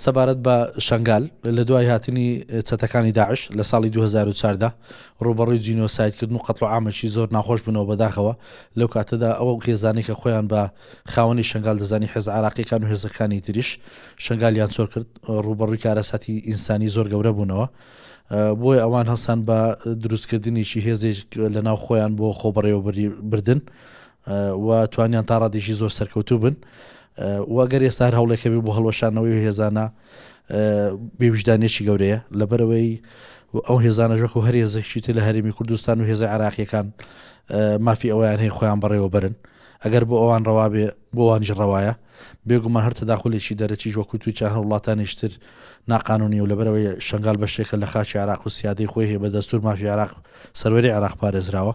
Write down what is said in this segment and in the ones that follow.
سەبارەت بە شەنگال لە دوای هاتنی چەتەکانی داعش لە ساڵی 2014دا ڕوبەڕووی جینۆسایدکردن و قەتڵ ئامەکی زۆر ناخۆش بوونەوە بەداخەوە لەو کاتەدا ئەوە هێزانەی کە خۆیان بە خاوەنی شنگال دەزانی حێز عراقیەکان و هێزەکانی تریش شنگالیان چۆر کرد ڕوبەڕووی کارەساتی ئینسانی زۆر گەورە بوونەوە بۆی ئەوان هەستان بە دروستکردنیی هێزێک لە ناو خۆیان بۆ خۆبڕێوە بردن و توانیان تا ڕادێکی زۆر سەرکەوتوو بن و گەر ئێستا هەر هەوڵێکەبی بۆ هەڵۆشانەوەی هێزانە بێویژدانێکی گەورەیە لەبەرەوەی ئەو هێزانە ژۆک و هەر هێزێکی تر لە هەرمی کوردستان و هێزە عراقیەکان مافی ئەویان هەیە خۆیان بەڕێوە برن ئەگەر بۆ ئەوان ڕەوابێ بۆوانژ ڕەوایە بێگومان هەر تەداخلێکی دەرەکیش وەکو توی چه هەر وڵاتانیشتر ناقانونی و لەبەرەوەی شنگال بەشێکە لە خاچی عراق و سیادی خۆی هەیە بە دەستور مافی عراق سەروەری عراق پارێزراوە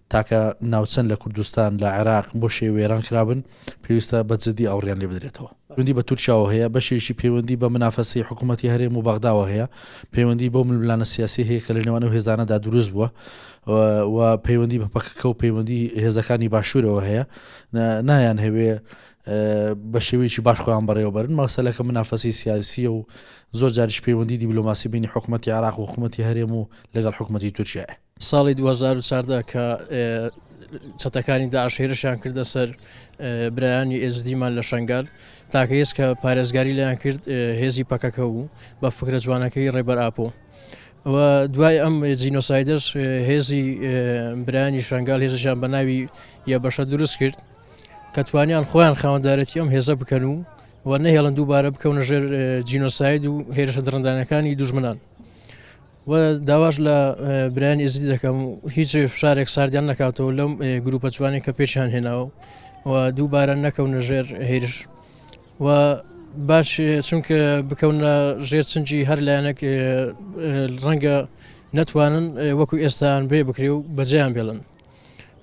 تاکە ناوچەن لە کوردستان لە عێراق بۆ شێ وێران کرابن پێویستە بە جدی ئاوڕیان لێ بدرێتەوە پەیوەندی بە تورکیاوە هەیە بەشێکی پەیوەندی بە منافەسی حکوومەتتی هەرێم و بەغداوە هەیە پەیوەندی بۆ ململانە سیاسی هەیە کە لە نێوان و هێزانەدا دروست بووە و پەیوەندی بە پەکەکە و پەیوەندی هێزەکانی باشوورەوە هەیە نایان هەوێ بە شێوەیەکی باش خۆیان بەڕێوەبەرن مەسەلەکە منافەسی سیاسیە و زۆر جاریش پەیوەندی دیبلوماسی بینی حکوومەتتی عراق و حکوومەتتی هەرێم و لەگەڵ حکوومەتتی تورکیایە ساڵی دوو هەزار و چاردە کە چەتەکانی داعش هێرشیان کردە سەر برایانی ئێزدیمان لە شنگال تاکە هێز کە پارێزگاری لەیان کرد هێزی پەکەکە بوو بە فکرە جوانەکەی ڕێبەر ئاپۆ. دوای ئەم جینۆسایدەش هێزی برانی شنگال هێزشان بە ناوی یە بەشە دروست کرد کە توانیان خۆیان خاوەندارەتی ئەم هێزە بکەن و و نەهێڵن دووبارە بکەونە ژێر جینۆساید و هێرشە دڕندانەکانی دوژمنان و داواش لە برایانی ئزیدی دەکەم هیچ فشارێک ساردیان نکاتەوە لەم گروپە جوانی کە پێشیان هێناوە و دووبارە نەکەونە ژێر هێرش و باش چونکە بکەونە ژێر چنجی هەر لایەنێک ڕەنگە نەتوانن وەکو ئێستان بێ بکرێ و بەجیان بێڵن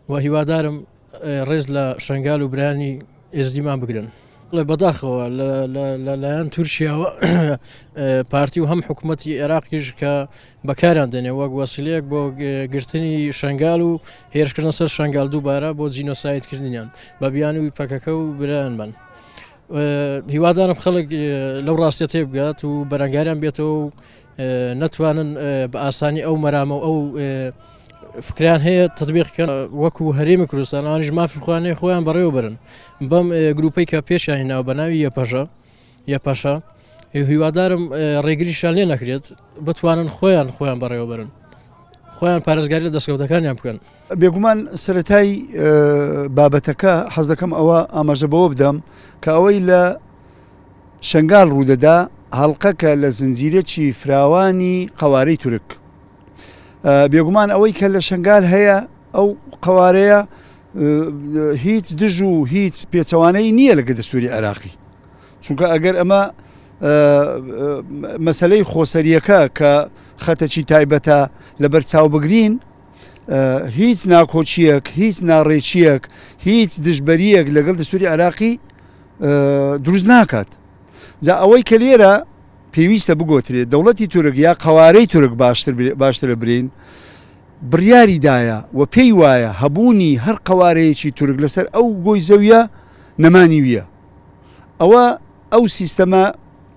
و هیوادارم ڕێز لە شنگال و برانی ئێزدیمان بگرن لە بەداخەوە لەلایەن تورکیاوە پارتی و هەم حکوومەتتی عێراقیش کە بەکاران دێنێ وەک وەسیلەیەک بۆ گرتنی شنگال و هێرشکردن سەر شنگال دووبارە بۆ جینۆسایتکردنیان بە بیانوی پەکەکە و برایان بن. هیوادارم خەڵک لەو ڕاستە تێبگات و بەرەنگاریان بێتەوە و نەتوانن بە ئاسانی ئەو مەرامە و ئەو فکران هەیە تدبیقکە وەکو هەرێمی کوردستانانیش مافی خوانێ خۆیان بەڕێوەبرن بەم گروپەی کە پێشانی ناو بە ناوی یەپەژە یەپەشە هیوادارم ڕێگریشان لێ نەکرێت بتوانن خۆیان خۆیان بەڕێوەبرن خۆیان پارێزگاری لە دەستکەوتەکانیان بکەن بێگومان سەرەتای بابەتەکە حەز دەکەم ئەوە ئاماژە بەوە بدەم کە ئەوەی لە شنگال ڕوودەدا هەڵلقەکە لە زنجیرەی فراوانی قوارەی تورک بێگومان ئەوەی کە لە شنگال هەیە ئەو قوارەیە هیچ دژ و هیچ پێچەوانەی نییە لەگە دەستوری عێراقی چونکە ئەگەر ئەمە مەسلەی خۆسەریەکە کە خەتەکی تایبەتە لەبەر چاو بگرین هیچ ناکۆچیەک هیچ ناڕێکیەک هیچ دژبەریەک لەگەڵ دەستوری عراقی دروست ناکات جا ئەوەی کە لێرە پێویستە بگۆترێت دەوڵەتی تورک یا قوارەی تورک باشتر باشترە برین بڕیاری دایە و پێی وایە هەبوونی هەر قوارەیەکی تورک لەسەر ئەو گۆی زەویە نەمانی ویە ئەوە ئەو سیستەمە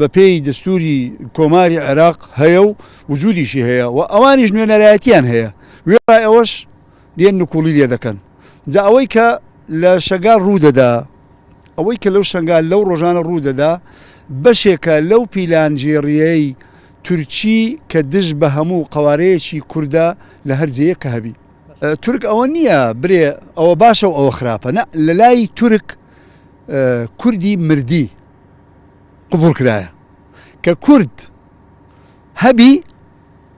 بە پێی دەستووری کۆماری عێراق هەیە و وجودیشی هەیە و ئەوانیش نوێنەرایەتیان هەیە وێڕای ئەوەش دێن نکوڵی لێ دەکەن جا ئەوەی کە لە شەنگال ڕوودەدا ئەوەی کە لەو شنگال لەو ڕۆژانە ڕوودەدا بەشێکە لەو پیلانگێڕیەی تورکی کە دژ بە هەموو قوارەیەکی کووردە لە هەرجەیە کە هەبی تورک ئەوە نییە برێ ئەوە باشە و ئەوە خراپە لە لای تورک کوردی مردی قبوڵ کرایە کە کورد هەبی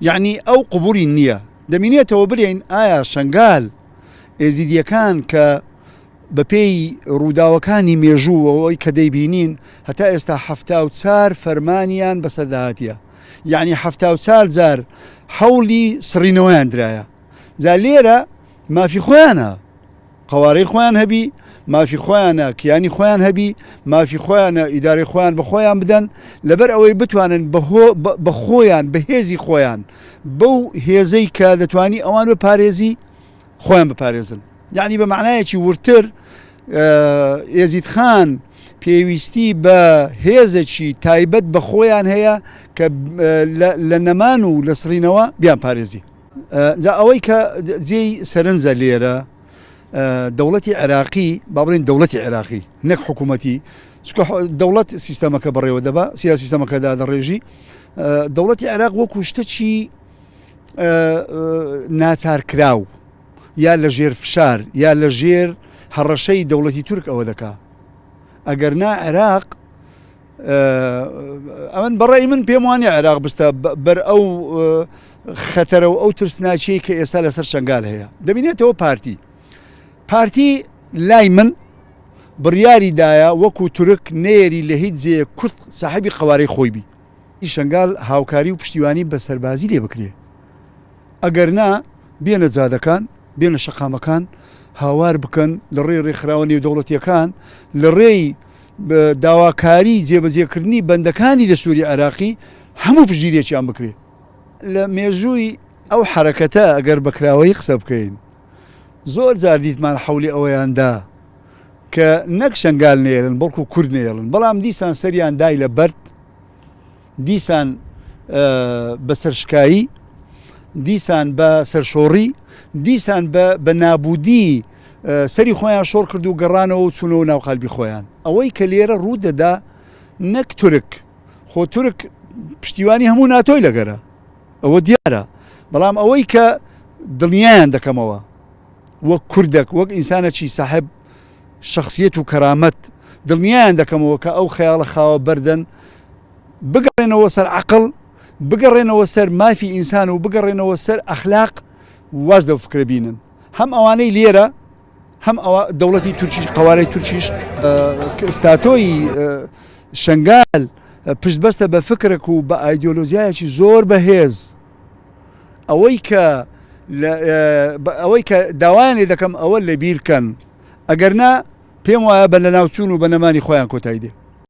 یەعنی ئەو قبوڵی نییە دەمینێتەوە برێین ئایا شنگال ئێزیدیەکان کە بەپێی ڕووداوەکانی مێژووەوەی کە دەیبینین هەتا ئێستا هەفتا و چار فەرمانیان بەسەداهاتە یعنی هەفتا و چار جار حەولی سڕینەوەیان درایە جا لێرە مافی خۆیانە قەوارەی خۆیان هەبی، مافی خۆیانە کیانی خۆیان هەبی، مافی خۆیانە ئیدارەی خۆیان بە خۆیان بدەن، لەبەر ئەوەی بتوانن بە خۆیان بە هێزی خۆیان بەو هێزەی کە دەتوانی ئەوان بپارێزی خۆیان بپارێزن یعنی بە معنایەکی وردتر ئێزید خان پێویستی بە هێزەکی تایبەت بە خۆیان هەیە کە لە نەمان و لە سڕینەوە بیان پارێزی جا ئەوەی کە جێی سەرنجە لێرە دەوڵەتی عێراقی با بڵین دەوڵەتی عێراقی نەک حکوومەتی چکە دەوڵەت سیستەمەکە بڕێوە دەبا سیا سیستەمەکەدا دەڕێژی دەوڵەتی عێراق وەکو شتەچی ناچار کراو یا لە ژێر فشار یا لە ژێر هەڕەشەی دەوڵەتی تورک ئەوە دەکا ئەگەر نا عێراق ئەمن بە ڕای من پێم وانە عێراق بستە بەر ئەو خەتەرە و ئەو ترسناچی کە ئێستا لەسەر شنگال هەیە دەبینێتەوە پارتی پارتی لای من بڕیاری دایە وەکو تورک نێری لە هیچ جێ کورت ساحبی قوارەی خۆی بی شنگال هاوکاری و پشتیوانی بە سەربازی لێ بکرێ ئەگەر نا بێنە جادەکان بێنە شەقامەکان هاوار بکەن لە ڕێ ڕێکخراوە نێودەوڵەتیەکان لە ڕێی داواکاری جێبەجێکردنی بەندەکانی دەستووری عێراقی هەموو پشتگیریەکیان بکرێت لە مێژووی ئەو حرەکەتە ئەگەر بەکراوەی قسە بکەین زۆر جار دیتمان حولی ئەوەیاندا کە نەک شنگال نێرن بەڵکو کورد نێڵن بەڵام دیسان سەریان دای لە بەرد دیسان بە سەرشکایی، دیسان بە سەرشۆڕی، دیسان بە نابوودی سەری خۆیان شۆڕ کرد و گەڕانەوە و چوونەوە ناو قالبی خۆیان. ئەوەی کە لێرە ڕوو دەدا نەک تورک، خۆ تورک پشتیوانی هەموو ناتۆی لەگەرە، ئەوە دیارە، بەڵام ئەوەی کە دڵنیایان دەکەمەوە وەک کوردەک، وەک ئینسانەکی ساحێب، شەخسیەت و کەرامەت دڵنیایان دەکەمەوە کە ئەو خەیاڵە خاوە بەردەن بگەڕێنەوە سەر عقل بگەڕێنەوە سەر مافی ئینسان و بگەڕێنەوە سەر ئەخلاق واز لەو فکرە بینن هەم ئەوانەی لێرە هەم ئەوە دەوڵەتی تورکیش قوارەی تورکیش ستاتۆی شنگال پشتبەستە بە فکرێک و بە ئایدۆلۆزیایەکی زۆر بەهێز ئەوەی کە ئەوەی کە داوایان لێ دەکەم ئەوە لە بیرکەن ئەگەر نا پێم وایە بە لەناوچوون و بە نەمانی خۆیان کۆتایی دێ